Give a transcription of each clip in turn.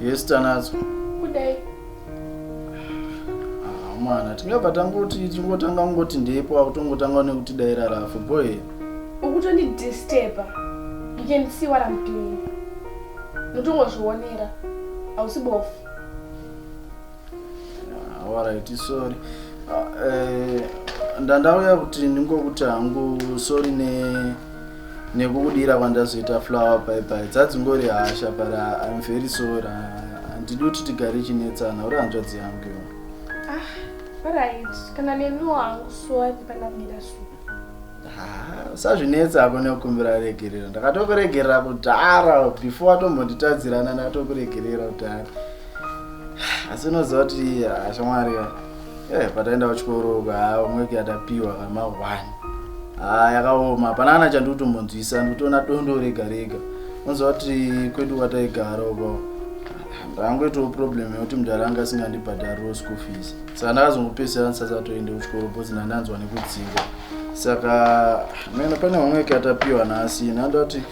Yes, Tanazo. Good day. Ah, mwana, tingabva tangoti tingotanga kungoti ndipo akutongotanga nekuti dai rarafu boy. Ukutondi disturber. You can see what I'm doing. Ndotongozvionera. Hausi bofu. Ah, alright sorry Ah, eh, ndandauya kuti ndingokuti hangu sorry ne nekukudira kwandazoita flower bye bye dzadzingori hasha but ah, i'm very sorry Ah, handidi kuti tigare chinetsana uri hanzvadzi yangu iwe. Alright, kana neniwo hangu sorry pandakuita so. usazvinetsa ako nekukumbira regerero ndakatokuregerera kudhara before watombonditadzirana ndakatokuregerera kudhara asi unoziva kuti ashamwari eh, pataenda kuchikoro ka umwe kuyatapiwa kama one ha yakaoma hapana kana chandikutombonzwisa ndikutoona dondo rega rega unoziva kuti kwedu kwataigara uko ndangoitawo problem yekuti mudhara anga asingandibhadhariwo school fees saka ndakazongopesera ndisasatoende kuchikoro bcause ndandanzwa nekudzingwa saka mena pane vamwe veke atapiwa nhasi nandati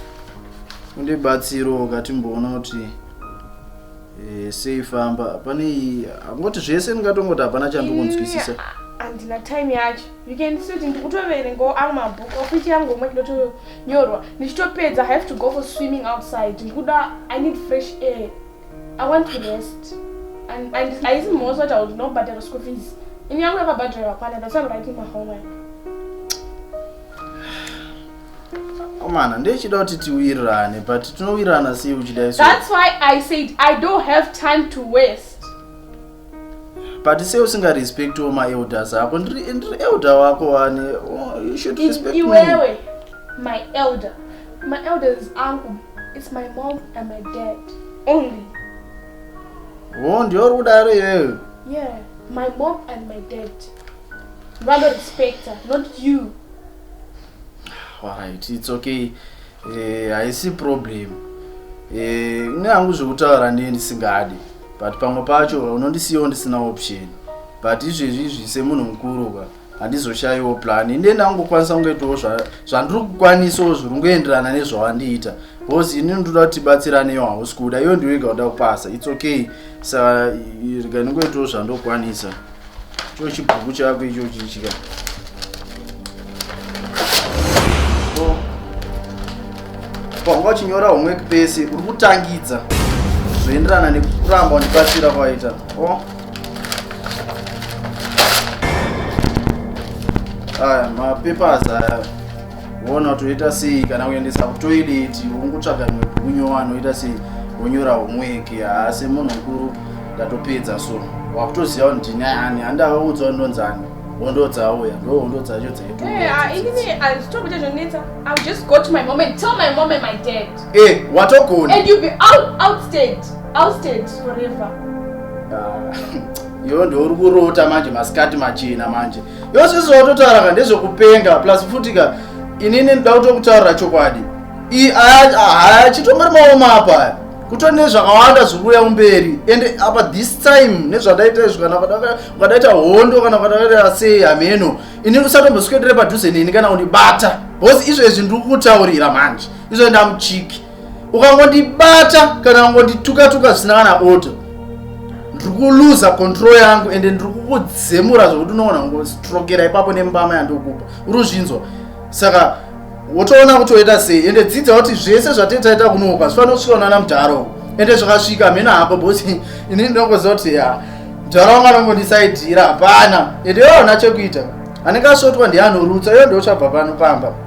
undibatsirowo katimboona kuti eh, sei famba pane iyi angoti zvese ndingatongoti hapana chandikunzwisisa andina time yacho you can see kuti ndikutoverengawo amwe mabook ofichi yangu omwe ndotonyorwa ndichitopedza have to go for swimming outside ndikuda i need fresh air i want to rest and haisi mhoso kuti auti nobhadhara school fees ini yangu yakabhadhara yakwana that's why i'm writing my homework komana ndechida kuti tiwirirane but tinowirirana sei uchida iso that's why i said i don't have time to waste but sei usinga respect wo maelders ako ndiri elder wako wani oh, you should respect me iwewe my elder my elders angu it's my mom and my dad only oh ndiyo uri kudaro iwewe yeah my mom and my dad vano respecta not you alright it's okay eh, haisi eh, problem eh, nehangu zvekutaura ndiye ndisingadi but pamwe pacho unondisiyawo ndisina option but izvezvi izvi semunhu mukuru ka handizoshaiwo plan inde ndangokwanisa kungoitawo zvandiri kukwanisawo zviri kungoenderana nezvawandiita bcause ini ndoda kuti tibatsiraneyo hausi kuda iyo ndiwega uda kupasa its okay sa rega ndingoitawo zvandokwanisa Cho chibhuku chako ichochi chika. So, panga uchinyora homework pese uri kutangidza zvoenderana nekuramba undibatsira kwaita o aya mapapers aya voona kuti toita sei kana kuendesa kutoilet ungotsvaga imwe bhuku nyowa anoita sei wonyora homweki haa semunhu mukuru ndatopedza so wakutoziva kuti ndini ani handavaudza kuti ndonzani hondo dzauya ndo hondo dzacho dzaiiwatogona iyo ndouri kurota manje masikati machena manje Iwe sisi watotaura ka ndezvekupenga plus futi ka inini ndida kutokutaurira chokwadi. I haya chitongori maoma apa. Kuto nezvakawanda zvikuuya kumberi ende apa this time nezvandaita izvi kana ukadaita hondo kana ukadaita sei hameno ini usatomboswedere padhuze neni kana undibata because izvezvi ndiri kutaurira manje izvo ndamuchiki ukangondibata kana kungondituka tuka zvisina kana oto ndiri kuluza control yangu ende ndiri kukudzemura zvekuti unoona ngostrokera ipapo nembama yandikupa uri uzvinzwa saka wotoona kuti woita sei ende dzidza kuti zvese zvatetaita kunoka zvifanira kusvika unana mudharo ende zvakasvika mhena hako bosi ini ndinongoziva kuti ya mudharo wanga anongondisaidhira hapana ende yoona chekuita anenge asvotwa ndianorutsa iyo ndiochabva pano pamba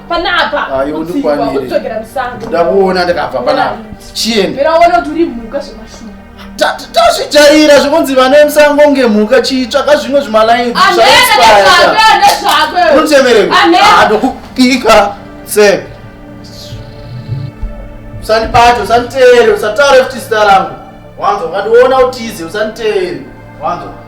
panapa kudzokera musango ndakuona ndakabva panapa chiende mira uone kuti uri mhuka zvemashuwa tazvijaira zvekunzi vana vemusango nge mhuka chitsvaka zvimwe zvimalainiunotemereaadokupika se usandibate usanditeere usataure futi zita rangu wanzwa ukationa utize usanditeere wanzwa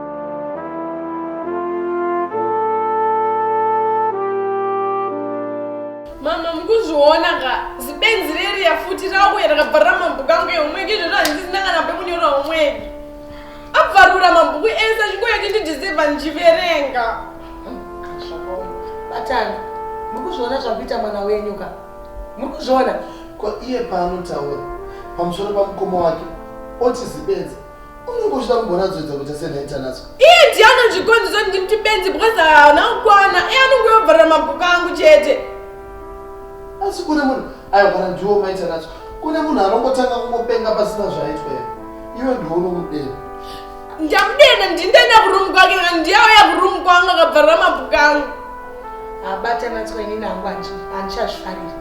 mama mukuzviona ka zibenzi reriya futi rauya rakabva ramabhuku angu ehomweki izvozvo handisina kana pekunyora homweki abvarura mabhuku ese achingoya kuti ndidhiseva ndichiverenga batana muri kuzviona zvakuita mwana wenyu ka muri kuzviona ko iye paanotaura pamusoro pamukoma wake oti zibenzi unenge uchida kumbonatsoedza kuita senhaitanatswa iye ndiye anozvikonzesa kuti ndimti benzi because haana kukwana iye anonge yobvarira mabhuku angu chete asi kune munhu aigwara ndiwo maitanatswa kune munhu anongotanga kungopenga pasina zvaitwa here iwe ndiwo unomudena ndamudena ndindaenda kurumu kwake ka ndiyauya kurumu kwangu akabvarira mabhuku angu abatanatswa inini angu andichazvifariri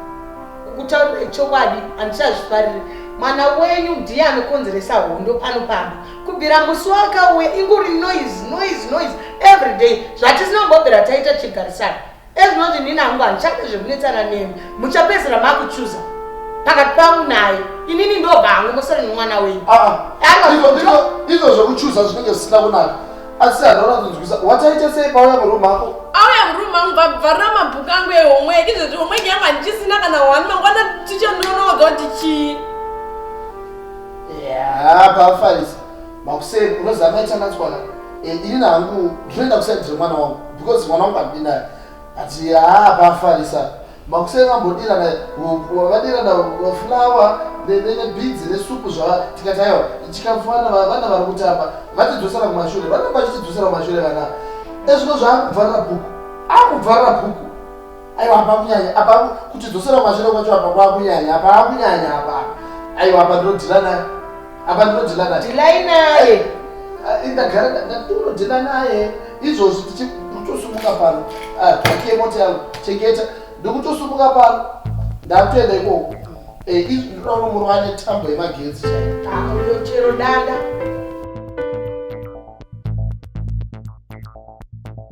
kutaura ichokwadi handichazvifariri mwana wenyu ndiye anokonzeresa hondo pano pamba kubvira musi wakauya inguri noise noise noise every day zvatisinombombera taita chigarisana ezvinoti nini hangu handichade zvekunetsana nemi muchapedzera makuchuza pakati pangu naye inini ndobva hangu mosere nemwana wenyu ah, ah. izvo zvekuchuza zvinenge zvisina kunaka asi anhu anozonzwisa wataita sei pauya muroom ako auya muroom angu vabvarira mabhuku angu ehomework izvozvi homework yangu handichisina kana one mangwana ticha ndinonoga kuti chii paafarisa makuseni unoziva maita natswana eh, ini nangu ndinoenda kusaidire mwana wangu because mwana wangu andinaye ati haa paafarisa Makuseni vambodirana hupwa, vadirana fulawa nebidzi nesupu zvava tikati aiwa chikafu vana vana vari kutamba vatidzosera kumashure vana vachitidzosera kumashure vana ezvino zvaakubvarira bhuku akubvarira bhuku aiwa apa kunyanya apa kutidzosera kumashure kwacho apa kwakunyanya apa akunyanya apa aiwa apa ndinodirana apa ndinodhila naye dhilai naye Ah, ndagara ndinodhila naye izvozvi tichikutosumuka pano Ah, pakiye mota yangu chengeta ndikutosumuka pano ndakutoenda ikoko Eh, izvi ndinoona muruva ane tambo yemagetsi chaiyo Ah, uyo chero dada